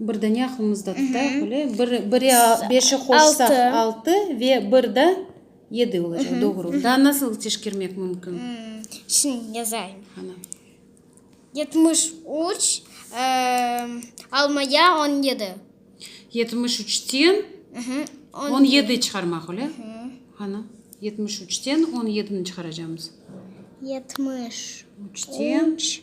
Bir dane aqlımızda tutaq, böyle, bir, biri beşi qoşsaq, altı, ve bir da yedi olacaq, doğru. Daa nasıl teşkermek mümkün? Şimdi yazayım. Ana. Yetmiş üç, almaya on yedi. Yetmiş üçten on yedi çıqarmaq, öyle? Ana, yetmiş üçten on yedini çıqaracaqmız. Yetmiş üç.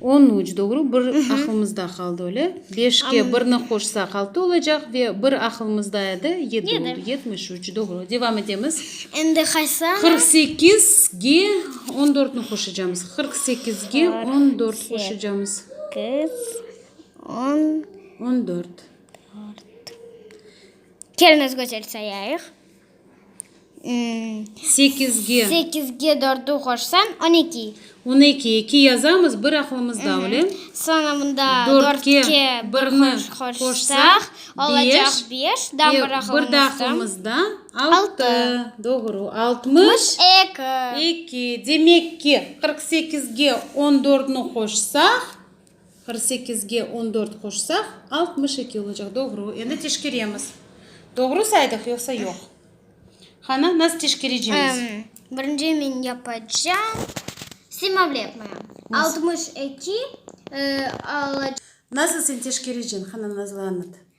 On üç, doğru, bir aqlımızda qaldı öyle. Beşke birni qoşsaq altı olacaq ve bir aqlımızda edi, yedi oldu. Yetmiş üç, doğru. Devam etemiz. Endi qaysı? Qırq sekizge on dörtni qoşacağımız. Qırq sekizge on dört qoşacağımız. Kız, on. On dört. Dört. Keliniz gözel sayayıq. Sekizge dörtü qoşsañ, on eki. On eki, eki yazamız, bir aqlımızda, öyle? Soñra mında dörtke birni qoşsaq, olacaq beş, daa bir aqlımızda, altı. Doğru, altmış eki. Demek ki, qırq sekizge on dörtni qoşsaq, Qırq sekizge on dört qoşsaq, altmış eki olacaq, doğru. Endi teşkeremiz. Doğru saydıq, yoqsa yoq? Qana, nasıl teşkerecemiz? Birinci men yapacam. Slimavlı yapmayam. Altmış eki olacaq. Nasıl sen teşkerecen, qana, nazlı anlat.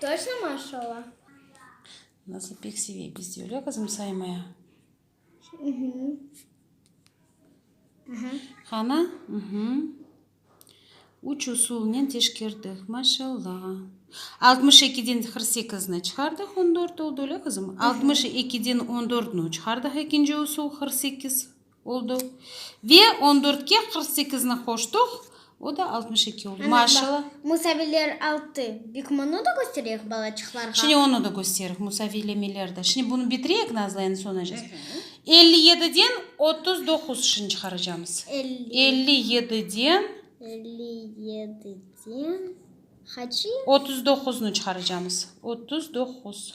Toçno maş ola. Nasıl pek seve. Biz de öyle kızım saymaya. Hana? Uhı. Üç usulnen teşkerdik. Maşalla. Altmış ekiden qırq sekizni çıqardıq, on dört oldı, öyle kızım? Altmış ekiden on dörtni çıqardıq, ekinci usul, qırq sekiz. Oldu. Ve on dörtke qırq sekizni qoştıq, o da altmış eki oldu. Maşalla. Musaviler altı. Bik mını da köstereyik balaçıqlarğa. Şimdi onı da kösteriq, musaviylemeler de. Şimdi bunı bitireyik, Nazlı, endi soñacağız. Elli yediden otuz doquz şıñ çıqaracamız. Elli yediden. Elli yediden. Haçı? Otuz doquznı çıqaracamız. Otuz doquz.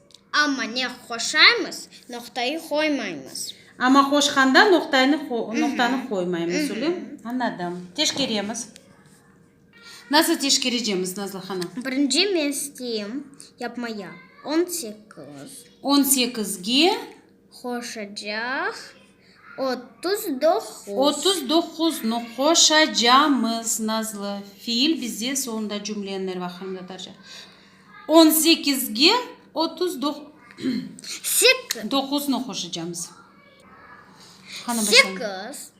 Amma ne qoşaymız, noqtayı qoymaymız. Amma qoşqanda noqtaynı noqtanı qoymaymız, ölem? Añladım. Teşkeremiz. Nasıl teşkerecemiz, Nazlı hanım? Birinci men isteyim yapmaya. On sekiz. On sekizge. qoşacaq otuz doquz. Otuz doquznı qoşacamız, Nazlı. Fiil bizde soñunda cümleniñ er vaqtında tarca. On sekizge otuz doquznı qoşacamız. Qani başlañız. Sekiz.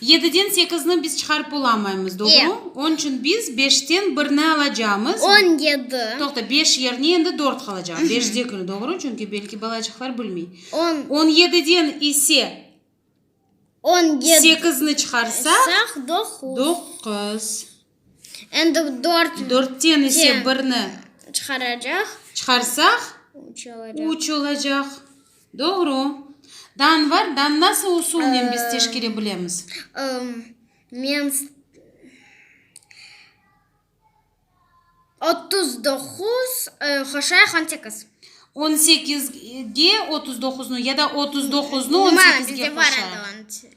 Yediden sekizni biz çıqarıp olamaymız, doğru? Onıñ içün biz beşten birni alacağımız. On yedi. Toqta, beş yerine endi dört qalacaq. Beşdekini, doğru? Çünki belki balacıqlar bilmey. On. On yediden ise. On yedi. Sekizni çıqarsaq. Saq, doquz. Doquz. Endi dört. Dörtten ise birni. Çıqaracaq. Çıqarsaq. Üç olacaq. Üç olacaq. Doğru. Dan var. Dan nasıl usulnen biz teşkere bilemiz? Men otuz doquz qoşayıq on sekiz. On sekizge otuz doquznı ya da otuz doquznı on sekizge qoşayıq. Bizde var endi.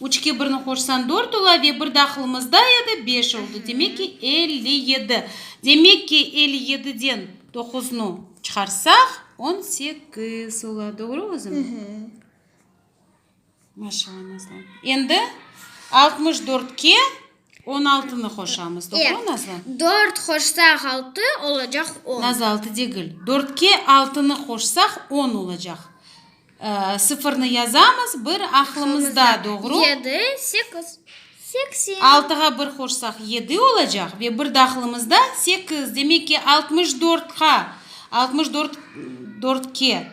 Üçke birni qoşsan dört ola ve bir dahılımızda edi, beş oldı. Demek ki, elli yedi. Demek ki, elli yediden doquznı çıqarsaq, on sekiz ola. Doğru qızım? Maşallah, nazlım. Endi altmış dörtke. On altını qoşamız, doğru, Nazlı? Dört qoşsaq, altı olacaq on. Nazlı, altı degil. Dörtke altını qoşsaq, on olacaq. Sıfırnı yazamız bir aqlımızda, doğru? Yedi, sekiz, seksen. Altığa bir qoşsaq, yedi olacaq ve bir de aqlımızda, sekiz. Demek ki, altmış dörtqa, altmış dört, dörtke.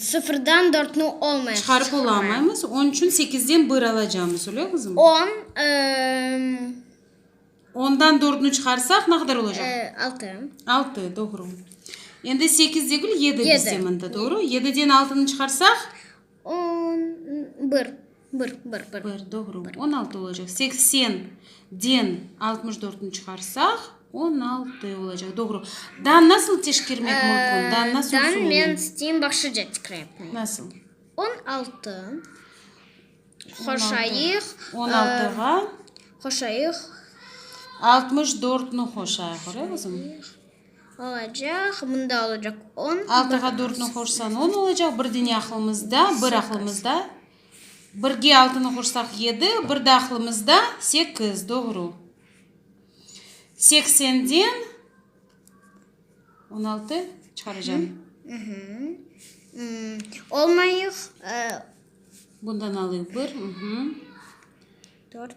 Sıfırdan dörtni olmay çıqarıp olamaymız, onıñ içün sekizden bir alacamız, öyle qızım? On. Ondan dörtni çıqarsaq, ne qadar olacaq? Altı. Altı, doğru. Endi sekiz degil, yedi dese mında, doğru? Yediden altını çıqarsaq? On bir, bir, bir, bir. Bir, doğru. On altı olacaq. Seksen den altmış dörtni çıqarsaq, on altı olacaq. Doğru. Dan nasıl teşkermek mümkün? Dan nasıl usulen? Dan men isteyim başqaca tekrar etmeye. Nasıl? On altı qoşayıq. On altığa. Qoşayıq. Altmış dörtni qoşayıq. Öyle qızım? Olacaq, mında olacaq on. Altığa dörtni qoşsañ on olacaq, bir dene aqlımızda, bir aqlımızda. Birge altını qoşsaq yedi, bir de aqlımızda sekiz, doğru. Seksenden on altı çıqaracam. Olmayıq. Bundan alayıq bir. Dört.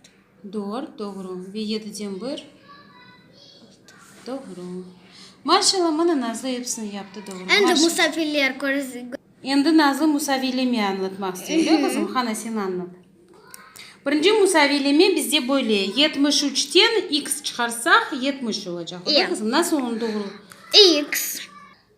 Dört, doğru. Ve yediden bir. Altı. Doğru. Maşalla, mına Nazlı episini yaptı, doğru. Endi Maşa- musafirler körüz. Endi Nazlı musaviyleme añlatmaq istiyor, öyle qızım? Qana, sen añlat. Birinci musaviyleme bizde böyle, yetmiş üçten X çıqarsaq, yetmiş olacaq, öyle Ye. qızım? Nasıl onı doğru? X.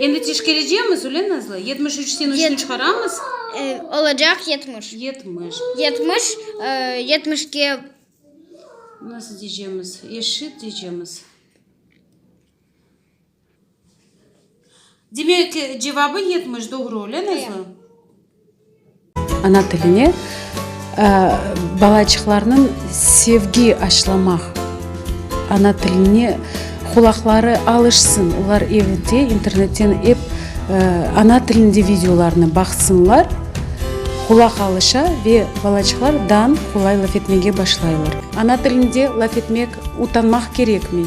Endi teşkerecemiz, öyle Nazlı? Yetmiş üçten üçni çıqaramız. Olacaq yetmiş. Yetmiş. Yetmiş, yetmişke. Nasıl diycemiz? Eşit diycemiz. Demek, cevabı yetmiş doğru, öyle Nazlı? Ana tiline balaçıqlarnıñ sevgi aşlamaq, ana tiline qulaqları alışsın, olar evde internetten ep ana tilinde videolarnı baqsınlar, qulaq alışa ve balaçıqlar dan qolay laf etmege başlaylar. Ana tilinde laf etmek utanmaq kerekmi?